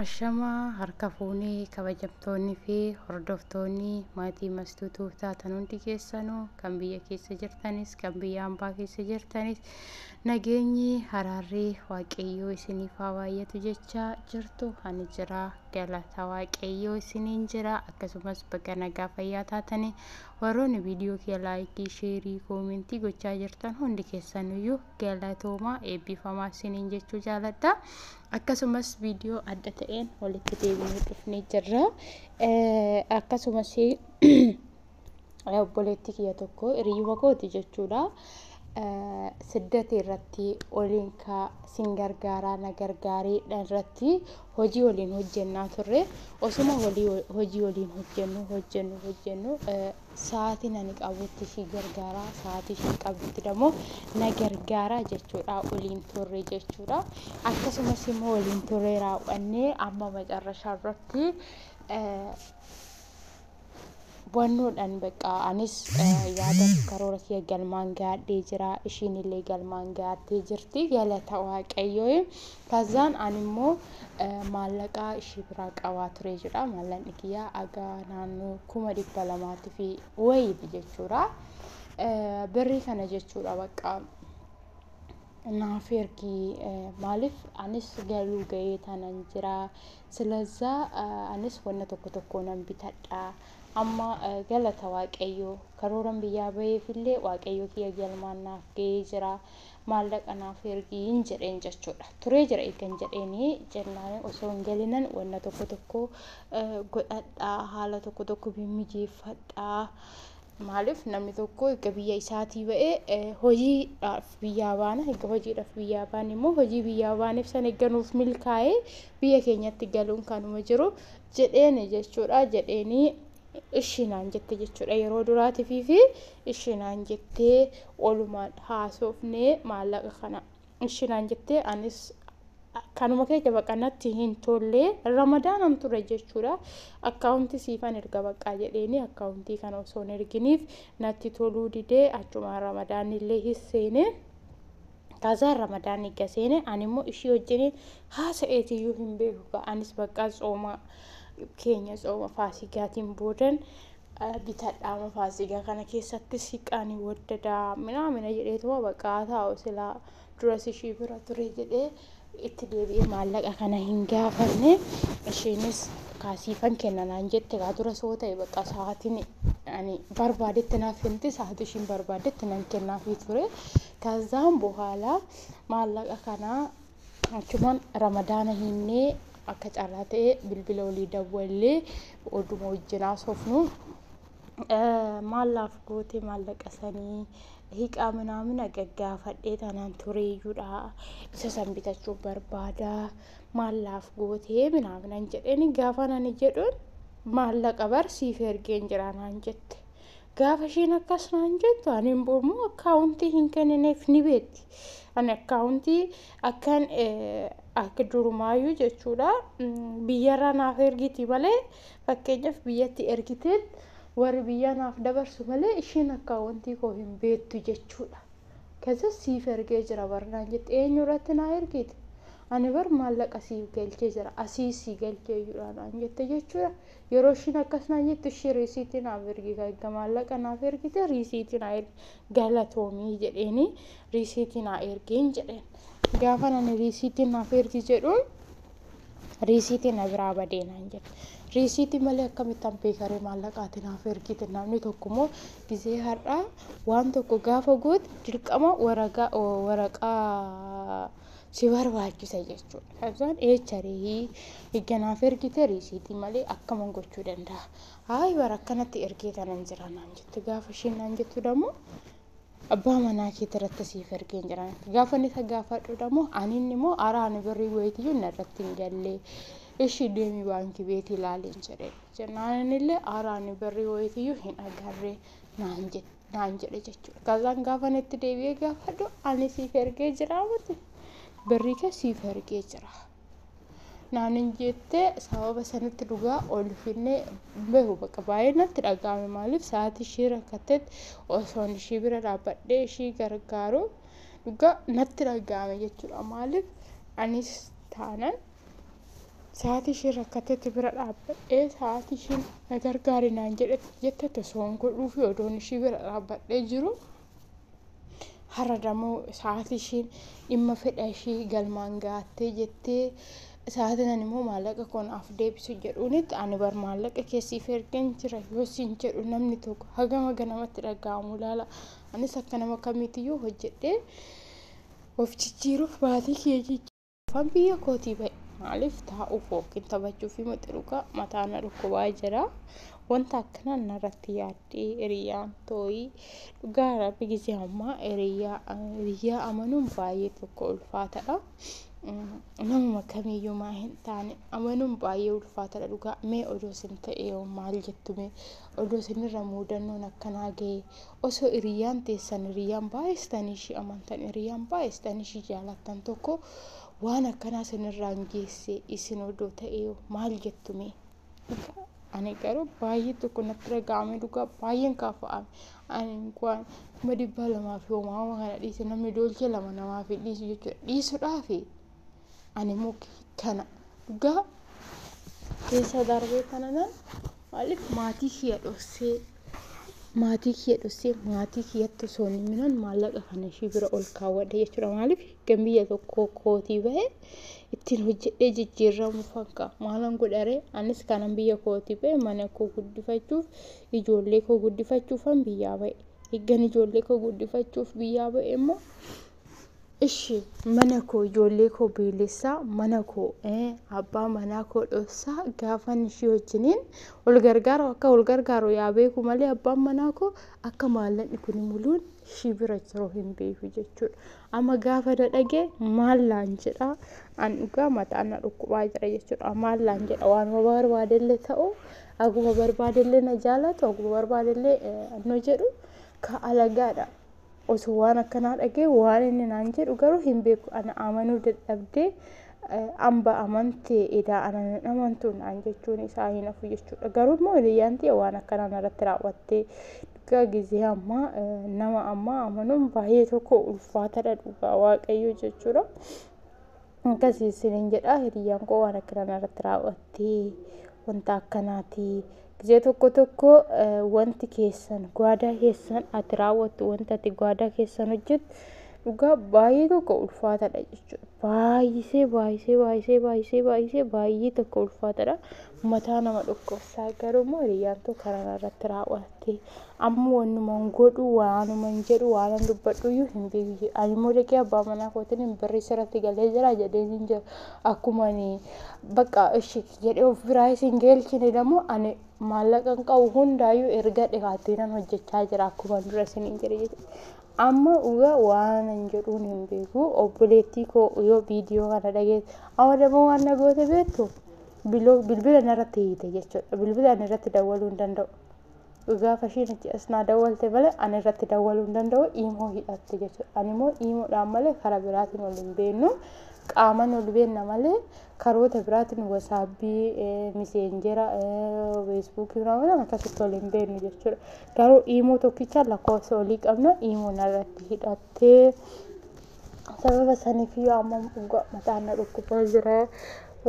Ashamaa harka fuunee kabajamtoonni fi hordoftoonni maatii mastuu tuuf taatan hundi keessanu kan biyya keessa jirtanis kan biyya ambaa keessa jirtanis nageenyi haraarri waaqayyoo isiniif haa baay'atu jechaa jirtu ani jira galata waaqayyoo isiniin jira akkasumas baga nagaa fayyaa taatanii warroonni viidiyoo kee laayikii sheerii koomentii gochaa jirtan hundi keessanuyyuu galatoomaa eebbifamaa isiniin jechuu jaaladha. akkasumas viidiyoo adda ta'een walitti deebinee dhufnee jirra. Akkasumas obboleetti kiyya tokko hiriyyuma kooti jechuudha. Siddati irratti oliin kaa sin gargaaraa na gargaarii irratti hojii waliin hojjennaa turre osuma hojii waliin hojjennu hojjennu hojjennu sa'aatiin ani qabutti ishii gargaara sa'aatii isheen qabdutti immoo na gargaara jechuudha waliin turre jechuudha akkasumas immoo waliin turre raawwannee amma macarrashaa irratti wannoodhaan bakka anis yaada karoora kiyya galmaan gaadhee jira ishiin illee galmaan gaattee jirti galata waaqayyoo Fazaan ani immoo maallaqaa ishii biraa qabaa ture jechuudha. Maallaqni kiyyaa agaa naannoo kuma dhibba lamaatti fi wayiiti jechuudha. Birrii kana jechuudha bakka naaf ergii maaliif anis galuu ga'ee tanan jira. Silazaa anis wanna tokko tokko nan bitadha. Amma galata waaqayyoo karooran biyyaa ba'eefillee waaqayyoo kiyya galmaan naaf ga'ee jira. maallaqa naaf ergiin jedheen jechuudha. Turee jira eegan jedheenii jennaan osoo hin galinan wanna tokko tokko godhadhaa haala tokko tokko mimmijeeffadhaa. Maaliif namni tokko erga biyya isaatii ba'ee hojiidhaaf biyyaa baana erga hojiidhaaf biyyaa baane immoo hojii biyyaa baaneef san erga nuuf milkaa'ee biyya keenyatti galuun kanuma jiru jedheeni jechuudha jedheeni ishii naan jette jechuudha yeroo duraatifii fi ishii naan jettee olumaan haasofnee maallaqa kana ishii naan jettee anis kanuma keessa baqa natti hin tolle ramadaanam ture jechuudha akkaawuntii siifan erga baqqaa jedheeni akkaawuntii kana osoo hin erginiif natti toluu didee achumaan ramadaanni illee hin seenee Taazaa Ramadaan eegga seene ani immoo ishii wajjin haasa'eetiyyuu hin beeku ka anis baqqaa tsooma keenya tsooma faasigaatiin boodan bitadhaama faasigaa kana keessatti siqaanii waddadaa minaa mina jedheetuma baqqaa taa'u silaa duras ishii bira ture jedhee itti deebi'ee maallaqa kana hin gaafanne isheenis kaa siifan kenna naan jette kaa dura soo ta'e bakka sa'aatiin ani barbaadetti naaf kennite sa'aatii ishiin barbaadetti nan kennaafii ture kazaan bohaala maallaqa kanaa achumaan ramadaana hinnee akka carraa ta'e bilbila olii dawwallee oduma wajjin haasofnu maallaaf goote maallaqa sanii hiqaa minaamina gaggaafadhee tanaan tureeyyuudha isa san bitachuu barbaada maallaaf gootee minaaminan jedheni gaafa nani jedhuun maallaqa bar siif ergeen jira naan jette gaafa isheen akkas naan jettu ani immoo akkaawuntii hin kennineef ni beekti ani akkaawuntii akkan akka durumaayyuu jechuudha biyyarraa naaf ergiti malee Fakkeenyaaf biyyatti ergiteen warri biyyaa naaf dabarsu malee isheen akkaawwantii koo hin beektu jechuudha. Kaza siif ergee jira bar naan jette eenyu irratti naa ergite ani bar maallaqa siif galchee jira asii sii galchee jira naan jette jechuudha. Yeroo ishiin akkas naan jettu ishii riisiitii naaf ergi erga maallaqa naaf ergite riisiitii naa ergi galatoomii jedheeni riisiitii naa ergiin jedheen. Gaafa nani riisiitii naaf ergi jedhuun riisiitii na biraa badee naan jedhe riisiitii malee akkamitti ampeekaree maallaqaatiin haaf ergite namni tokko immoo gizee har'aa waan tokko gaafa goote dirqama waragaa- o- waraqaa si barbaachisa jechuudha kabsaan eecharii igganaaf ergite riisiitii malee akkaman gochuu danda'a haay bara akkanatti ergee tanan jira naan jette gaafa isheen naan jettu dammoo abbaa manaa keetti irratti siif ergee hin jiran gaafa inni isa gaafadhuudha moo ani inni moo araa ani birrii wayitiyyuu na irratti hin gallee ishii deemii baankii beetii ilaaliin jedhe jennaan innillee araa ani birrii wayitiyyuu hin agarree naan jedhe naan jedhe jechuudha. Kazaan gaafa itti deebi'ee gaafadhu ani siif ergee jira miti birrii kee siif ergee jira. naanin jette sababa sanitti dhugaa ol finnee beeku bakka baay'ee natti dhaga'ame maaliif sa'aatii ishii rakkattetti osoon ishii bira dhaabbadhee ishii gargaaru dhugaa natti dhaga'ame jechuudha maaliif anis taanan sa'aatii ishii rakkattetti bira dhaabbadhee sa'aatii ishii na gargaari naan jedhetti jettetti osoon godhuufi odoon ishii bira dhaabbadhee jiru Har'a dammoo sa'aatii ishiin dhimma fedha ishii galmaan gaattee jettee sa'aatiin ani immoo maallaqa koo naaf deebisu jedhuunitti ani bar maallaqa kee siif ergeen jira yoo siin jedhu namni tokko hagam haga namatti dhaga'amu ilaala. Anis akka nama kamiitiyyuu hojjedhee of jijjiiruuf maatii kiyya jijjiiruuf. Afaan biyya kootii ba'e maaliif taa'uuf yookiin taphachuuf miti dhugaa mataa na dhukkubaa jira. Wanta akkanaan narratti yaaddee hiriyyaan tooyii dhugaa rabbi gisee ammaa hiriyyaa hiriyyaa amanuun baay'ee tokko ulfaatadha. Namuma kamiyyumaa hin taane amanuun baay'ee ulfaatadha dhugaa mee odoo sin ta'e yoo maal jettu mee odoo sinirra muudannoon akkanaa ga'e osoo iriyyaan teessan iriyyaan baay'istanii ishii amantan iriyyaan baay'istanii ishii jaalattan tokko waan akkanaa sanirraan geesse isin odoo ta'ee maal jettume ani garuu baay'ee tokko natti dhaga'ame dhugaa baay'een kaafa'ame ani waan kuma dhibbaa lamaa fi homaa homaa kana dhiise namni doolcha lama namaa fi dhiisu jechuudha dhiisudhaafi Ani immoo kana dhugaa keessa darbee kana nan maaliif maatii kiyya dhossee maatii kiyya dhossee maatii kiyyatti osoo hin himinan maallaqa kana ishii bira ol kaawwadhe jechuudha maaliif kan biyya tokko kootii bahe ittiin hojjedhee jijjiirramu fakka maalan godharee anis kanan biyya kootii bahe mana koo guddifachuuf ijoollee koo guddifachuufan biyyaa bahe eeggan ijoollee koo guddifachuuf biyyaa bahe immoo Ishi mana koo ijoollee koo beelessaa mana koo eh, abbaa manaa koo dhossaa gaafan ishii wajjiniin wal gargaaru akka wal gargaaru yaa beeku malee abbaan manaa koo akka maallaqni kun muluun ishii bira jiru hin beeku jechuudha. Amma gaafa na dhagee maallaan jedha an dhugaa mataan na dhukkubaa jira jechuudha. Maallaan jedha waanuma barbaadellee ta'u akkuma barbaadellee na jaalatu akkuma barbaadellee eh, anno jedhu ka alagaadha. Osoo waan akkanaa dhaga'ee waan inni naan jedhu garuu hin beeku. Ana amanuu dadhabdee amba amante edaa ana hin amantu naan jechuun isaa hin hafu jechuudha. Garuu immoo hiriyyaan tiyya waan akkanaa narratti raawwattee dhugaa gizee ammaa nama ammaa amanuun baay'ee tokko ulfaataadha dhugaa waaqayyoo jechuudha. Akkasii isiniin jedha hiriyyaan koo waan akkanaa narratti raawwattee wanta akkanaatii Ija tokko tokko wanti keessan gwaadaa keessan ati raawwattu wanti ati gwaadaa keessan hojjettu dhugaa baay'ee tokko ulfaatadha jechuudha. Baay'isee baay'isee baay'isee baay'isee baay'isee baay'ee tokko ulfaatadha. Mataa nama dhukkubsaa garuu immoo hiriyyaan too karaa irratti raawwatte. Amma wannuma hin godhu waanuma hin jedhu waan hin dubbadhu iyyuu hin beeku. Ani immoo dhaqee abbaa manaa kootiin birrii sirratti galee jira jedheen hin jiru. Akkuma ani bakka ishi jedhe of biraa isin geelchine damo ani maallaqan qabu hundaayyuu erga dhihaattiinan hojjechaa jira akkuma dura isiniin jedhe jechuudha. Amma dhuga waanan jedhuun hin beeku obboleettii koo yoo viidiyoo kana dhageesse amma damo waan na goote beektu bilbila narratti hiite jechuudha bilbila ani irratti dawwaluu hin danda'u. Gaafa ishiin achi as naa dawwalte malee ani irratti dawwaluu hin danda'u iimoo hidhatte jechuudha. Ani immoo iimoodhaan malee karaa biraatiin ol hin beennu. Qaaman ol beenna malee karoota biraatiin wasaabbii, miseenjera, feesbuukii biraatiin akkasitti ol hin beennu jechuudha. Garuu iimoo tokkichaan lakkoofsa olii qabna iimoon irratti hidhattee Sababa saniifiyyuu amma dhugaa mataan na dhukkubaa jira.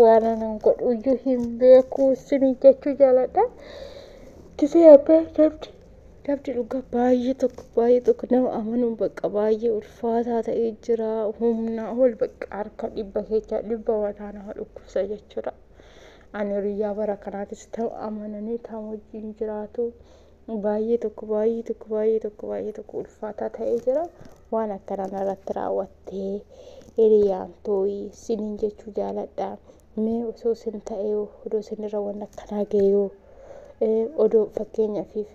Waan anan godhuyyuu hin beeku isinii jechuu jaaladha. Gisee abbaa namni namni dhugaa baay'ee tokko baay'ee tokko nama amanuun bakka baay'ee ulfaataa ta'ee jira. Humnaa ol bakka harka dhibba keechaa dhibba mataa nama dhukkubsa jechuudha. Ani hiriyyaa bara kanaatis ta'u amananii ta'u wajjin jiraatu. Baay'ee tokko baay'ee tokko baay'ee tokko baay'ee tokko ulfaataa ta'ee jira. Waan akkanaa narratti raawwattee hiriyaan too'ii siniin jechuu jaaladha. Mee osoo sin ta'ee odoo sinirra waan akkanaa ga'eeyoo odoo fakkeenyafiif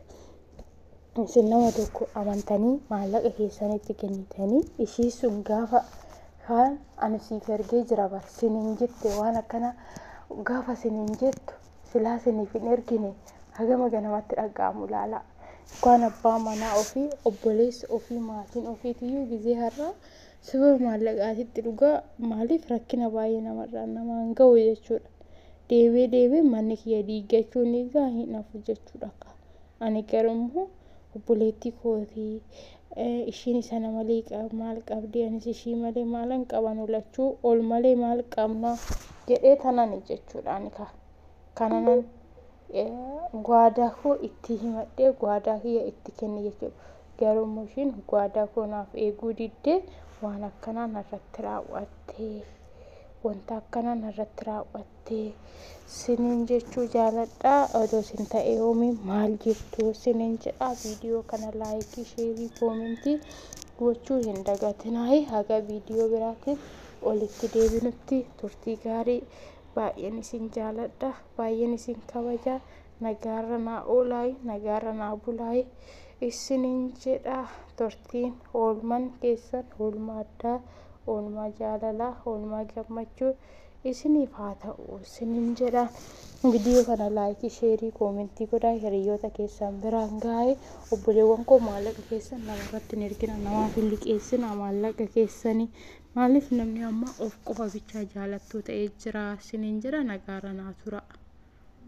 isin nama tokko amantanii maallaqa keessanitti kennitanii ishii sun gaafa kaan ani siif ergee jira bar siniin jette waan akkanaa gaafa siniin jettu silaa siniif hin ergine hagama ganamatti dhagga'amu ilaalaa. Ukkaan abbaa manaa ofii, obboleessa ofii, maatiin ofiitiyyuu gizee har'aa sababa maallaqaatitti dhugaa maaliif rakkina baay'ee namarraan namaan ga'u jechuudha. Deebi'ee deebi'ee manni kiyya diiggachuun egaa hin hafu jechuudha akka. Ani garuu immoo obboleettii kooti ishiin isa na malee maal qabdi anis ishii malee maalan qabanu lachuu ol malee maal qabna jedhee tanani jechuudhaan ka kananan gwaadaa koo itti himadhee gwaadaa kiyya itti kenne jechuudha garuu immoo ishiin gwaadaa koo naaf eeguu diddee waan akkanaa narratti raawwattee wanta akkanaa narratti raawwattee jettee sinin jechuu jaaladha odoo sin ta'e hoomi maal jettu sinin jedha viidiyoo kana laayikii sheerii koomentii gochuu hin dagatinaayi haga viidiyoo biraatiin olitti deebinutti turtii gaarii baay'een isin jaaladha baay'een isin kabaja nagaarra naa oolaayi nagaarra naa bulaayi isinin jedha turtiin oolman keessan oolmaa addaa oolmaa jaalalaa oolmaa gammachuu isiniif haa ta'u isiniin jedha. Viidiyoo kana laayikii, sheerii, koomentii godhaa hiriyoota keessan biraan gaa'ee obboleewwan koo maallaqa keessan namarratti hin ergina namaaf hin liqeessina maallaqa keessanii maaliif namni amma of qofa bichaa jaalattuu ta'ee jira isiniin jedha nagaara naa tura.